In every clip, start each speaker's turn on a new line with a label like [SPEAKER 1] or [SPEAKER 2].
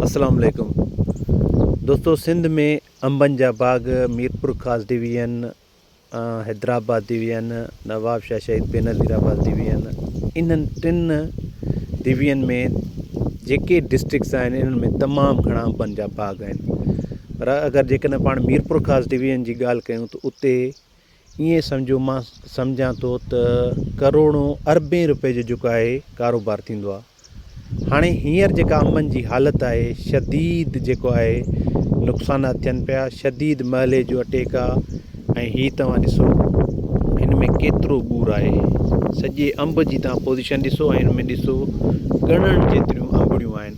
[SPEAKER 1] السلام عليڪم دوستو سنڌ ۾ انبن جا باغ ميرپورخاص ڊويزن حيدرآباد ڊويزن نوابشاھ شھيد بينظير آباد ڊويزن انھن ٽن ڊويزن ۾ جيڪي ڊسٽرڪس آھن انھن ۾ تمام گھڻا انبن جا باغ آھن پر اگر جيڪڏھن پاڻ ميرپورخاص ڊويزن جي ڳالھ ڪيون ته اتي ائين سمجهو مان سمجهان ٿو ته ڪروڙون اربين روپين جو جيڪو آهي ڪاروبار ٿيندو آهي هاڻي هينئر جيڪا انبن جي حالت آهي شديد جيڪو آهي نقصانات ٿين پيا شديد مئلي جو اٽيڪ آهي ۽ هي توهان ڏسو هن ۾ ڪيترو ٻور آهي سڄي انب جي توهان پوزيشن ڏسو ۽ هن ۾ ڏسو ڳڻڻ جيتريون انبڙيون آهن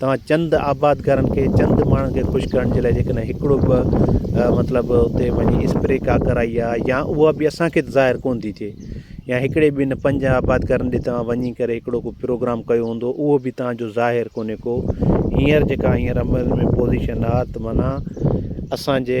[SPEAKER 1] توهان چند آبادگارن کي چند ماڻهن کي خوش ڪرڻ جي لاء جيڪڏهن هڪڙو به مطلب اتي وڃي اسپري ڪا ڪرائي آ يا اها به اسانکي ته ظاهر ڪون ٿي ٿئي يا هڪڙي به ان پنج آبادگارن ڏي توهان وڃي ڪري هڪڙو ڪو پروگرام ڪيو هوندو اهو به تهانجو ظاهر ڪونهي ڪو هينئر جيڪا هينئر عمل ۾ پوزيشن آ ته معنيٰ اسانجي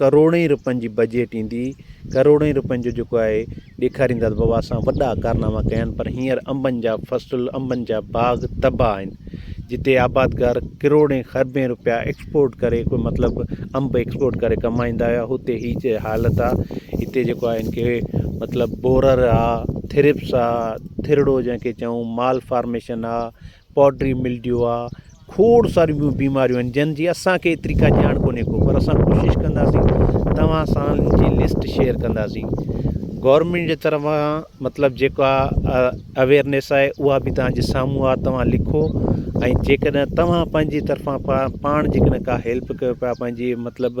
[SPEAKER 1] ڪروڙين رپين جي بجيٽ ايندي ڪروڙين رپين جو جيڪو آهي ڏيکاريندا ته بابا اسان وڏا ڪارناما ڪيا آهن پر هينئر انبن جا فصل انبن جا باغ تباهه آهن جتي آبادگار ڪروڙين خربين رپيا ايڪسپورٽ ڪري ڪو مطلب انب ايڪسپورٽ ڪري ڪمائيندا هيا هتي هي جي حالت آ هتي جيڪو آهي هن کي مطلب بورر آ ٿرپس آ ٿرڙو جنهن کي چئون مال فارميشن آ پوڊري ملڊيو آ کوڙ ساريون ٻيون بيماريون آهن جن جي اسان کي ايتري ڪا ڄاڻ ڪونهي ڪو پر اسان ڪوشش ڪنداسين توهان سان ان جي لسٽ شيئر ڪنداسين گورنمينٽ جي طرفان مطلب جيڪا اويرنيس آهي اها بي توهان جي سامهون آ توهان لکو ۽ جيڪڏهن توهان پنهنجي طرفان پا پاڻ جيڪڏهن ڪا هيلپ ڪيو پيا پنهنجي مطلب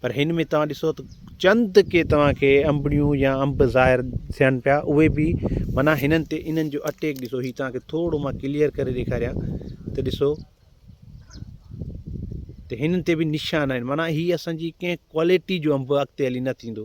[SPEAKER 1] پر هن ۾ توهان ڏسو ته چند ڪي توهان کي انبڙيون يا انب ظاهر ٿين پيا اهي به معنيٰ هنن تي انهن جو اٽيڪ ڏسو هي توهان کي ٿورو مان ڪليئر ڪري ڏيکاريان ته ڏسو ته هنن تي به نشان آهن معنيٰ هي اسان جي ڪنهن ڪواليٽي جو انب اڳتي هلي نه ٿيندو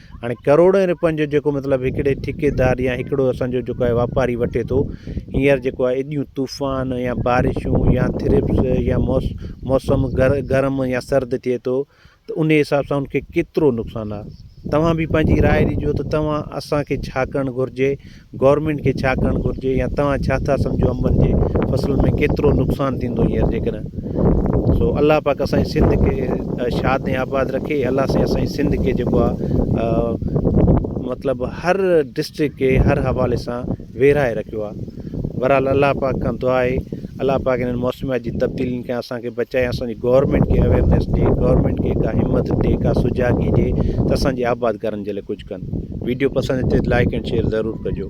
[SPEAKER 1] هاڻي ڪروڙين رپين جو جيڪو مطلب هڪڙي ٺيڪيدار يا هڪڙو اسان جو جيڪو آهي واپاري وٺي ٿو هينئر جيڪو آهي ايڏيون طوفان يا بارشون يا ٿرپس يا موس موسم گر گرم يا سرد ٿئي ٿو ته ان حساب سان ان کي ڪيترو نقصان آهي توهان به پنهنجي راء ڏجو ته توهان اسان کي ڇا ڪرڻ گهرجي گورنمينٽ کي ڇا ڪرڻ گهرجي يا توهان ڇا ٿا سمجهو انبن جي فصل ۾ ڪيترو نقصان ٿيندو هينئر جيڪڏهن سو الله پاڪ اسان جي سنڌ کي شاد ۽ آباد رکي الله سائين اسان جي سنڌ کي جيڪو آهي مطلب هر ڊسٽرڪ کي هر حوالي سان ويرائي رکيو آهي بهرحال الله پاڪ کان دعا آهي الله پاڪ هنن موسميات جي تبديلين کان اسان کي بچائي ۽ اسان جي گورنمينٽ کي اويرنيس ڏي گورنمينٽ کي ڪا همت ڏي ڪا سجاڳي ڏي ته اسان جي آبادگارن جي لاء ڪجهه ڪن ويڊيو پسند اچي ته لائيڪ اينڊ شيئر ضرور ڪجو.